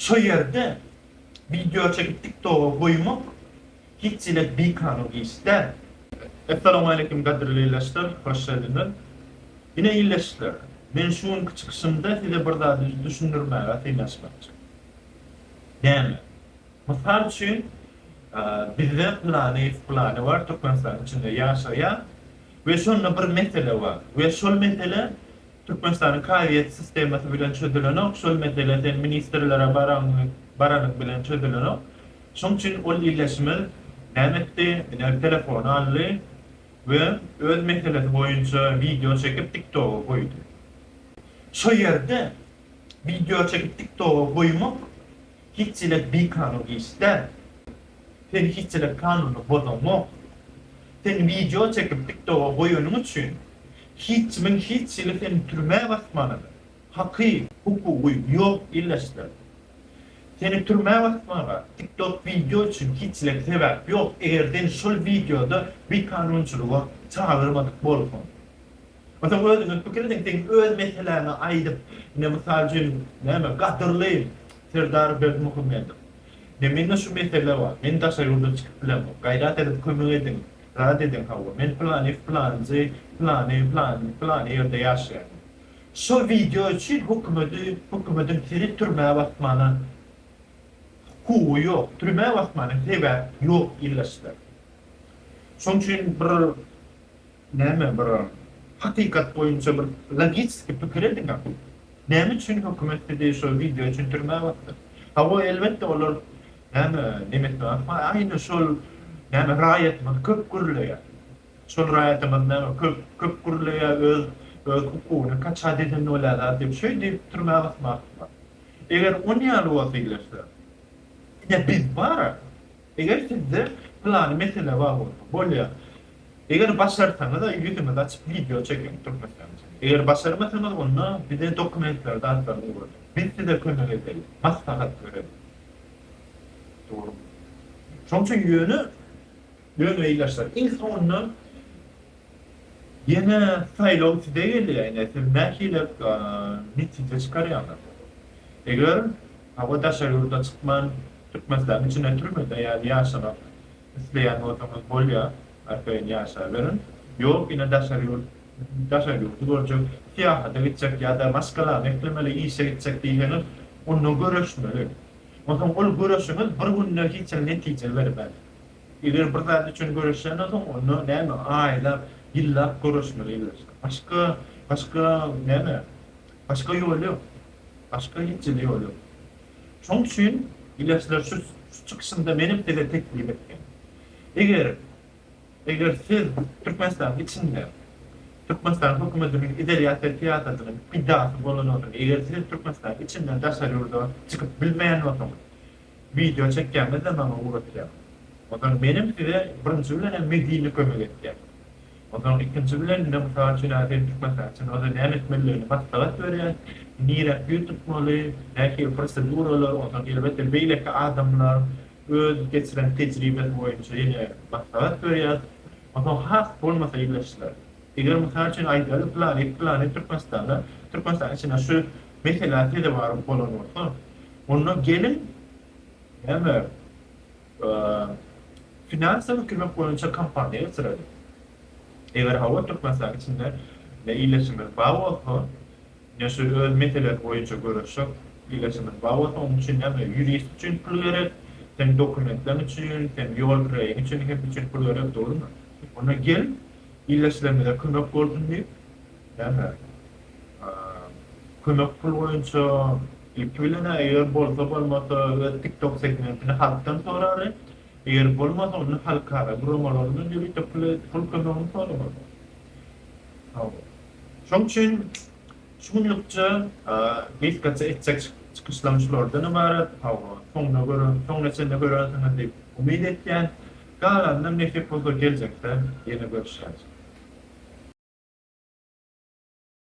Şu ýerde wideo çekip tiktoga goýmak hiç hili bikanun iş däl. Essalowmaleýkim gadyrly ildeşler, hoş geldiňiz. Ine ildeşler, men şu günki çykyşymda size bir zady düşündirmäge synanyşmakçy. Näme? Mysal üçin, bizde pylany, pylany bar, Türkmenistanyň içinde ýaşaýar we şonda bir mesele bar we şol mesele Türkmenistanyň kazyýet sistemasy bilen çözülenok, şol mesele sen ministrlere baraňňy baranyň bilen çözülenok. Şoň üçin ol ildeşimiz näme etdi, iner telefony aldy we öz meselesi boýunça wideo çekip tiktoga goýdy. Şo ýerde wideo çekip tiktoga goýmak hiçjelek bikanun iş däl. Sen hiçjelek kanuny bozaňok. Sen wideo çekip tiktoga goýanyň üçin Hiç kimiň hiç hili seni türmä basmana haky, hukugy ýok illesler. Seni türmä basmaga tiktok wideo üçin hiç hili sebäp ýok eger seni şol wideoda bikanunçylyga çagyrmadyk bolsaň. Ýa sen özüňe pikir ediň seň öz meseläňi aýdyp ine mysal üçin näme gadyrly Serdar Berdimuhamedow Be mende şu mesele bar, men daşa ýurda çykyp bilemok, gaýrat edip kömek ediň, rad ediň hawa, men pylany pylanjy pylany pylany pylany ýerde ýaşaýan. Şol wideo üçin hökümedi hökümediň seni türmä basmana hukugy ýok, türmä basmana sebäp ýok ildeşler. Şoň üçin bir. Näme bir hakykat boýunça bir logistiki pikir ediňä. Näme üçin hökümet sizi şo wideo üçin türmä basdy? Hawa elbetde olar näme neme etmek ma aýna şol näme raýatymyz köp gürleýär. Şol raýatymyz näme köp köp gürleýär öz öz hukugyny kaçat eden bolýar zat diýip şeý diýip türmä basmakmy. Eger onýaly bolsa ilerse ine biz bara. Eger sizde pylany mesele bar bolsa, bolýa. Eger başarsaňyza ýüzüňizi açyp wideo çekiň türkmenistançada. Eger başarmasaňyz onda bize dokumentleri zatlaryny ýuberseňiz. Biz size kömek ederis. Maslahat bereris. Dogrumy? Şoň üçin ýöne ýöne ilaçlar iň soňundan Ýene saýlaw size gelýär ine siz nähili mitinge çykarýaňyz. Eger hawa daşary ýurda çykman Türkmenistanyň içinde türmede ýaly ýaşamak isleýän bolsaňyz bolýar arkaýyn ýaşaberiň. Ýok ine daşary ýurt daşary ýurdy görjek syýahata gitjek ýa-da maşgalany eklemeli işe gitjek diýseňiz onda göreşmeli. Onsoň ol göreşiňiz bir günde hiç hili netije bermez. Eger bir zat üçin göreşýän bolsaň, onda näme, aýlap, ýyllap göreşmeli elbetde. Başga, başga näme, başga ýol ýok. Başga hiç hili ýol ýok. Şonuň üçin ileçler şu çykyşynda menem size teklip etdim. Eger, eger siz Türkmenistanyň içinde Türkmenistanyň hökümetiniň izolýasiýa syýasatynyň pidasy bolan bolsaňyz, eger siz Türkmenistanyň içinden daşary ýurda çykyp bilmeýän bolsaňyz, Wideo çekýäňizde maňa ugratýaň. Onsoň menem size birinji bilenem medini kömek etýän. Onsoň ikinji bileninde mysal üçin hä sen türkmenistan üçin onda näme etmelidigini maslahat berýän. Nirä ýüz tutmaly, nähili proseduralar onsoň elbetde beýleki adamlar öz geçiren tejribesi boýunça ýene maslahat berýär. Onsoň has bolmasa ildeşler. Eger mysal üçin aýdaly planet planet türkmenistanda türkmenistan içinde şu meselä sezewar bolan bolsa Onda geliň, näme, finansawy kömek boýunça kampaniýa geçireliň. Eger hawa, Türkmenistanyň içinde iletişimiz bar bolsa, ine şu öz meselesi boýunça görüşjek iletişimiz bar bolsa, onuň üçin näme, ýurist üçin pul gerek, seniň dokumentleriň üçin, seniň ýol kiraýyň üçin, hepsi üçin pul gerek, dogrumy? Onda gel, ildeşlerimize kömek bolsun diýip, näme, kömek pul boýunça Gep bilenä eger bolsa bolmasa öz TikTok segmentini halkdan sorary, eger bolmasa onda halkara guramalaryndan ýörite pul kömegini soramaly. Hawa. Şoň üçin şu günlükçe gysgaça etjek çykyşlarym şulardan ybarat. Hawa, soňuna görä, soňuna çenli görersiňiz diýip umyt etýän. Galanynam nesip bolsa geljekde ýene görüşeris.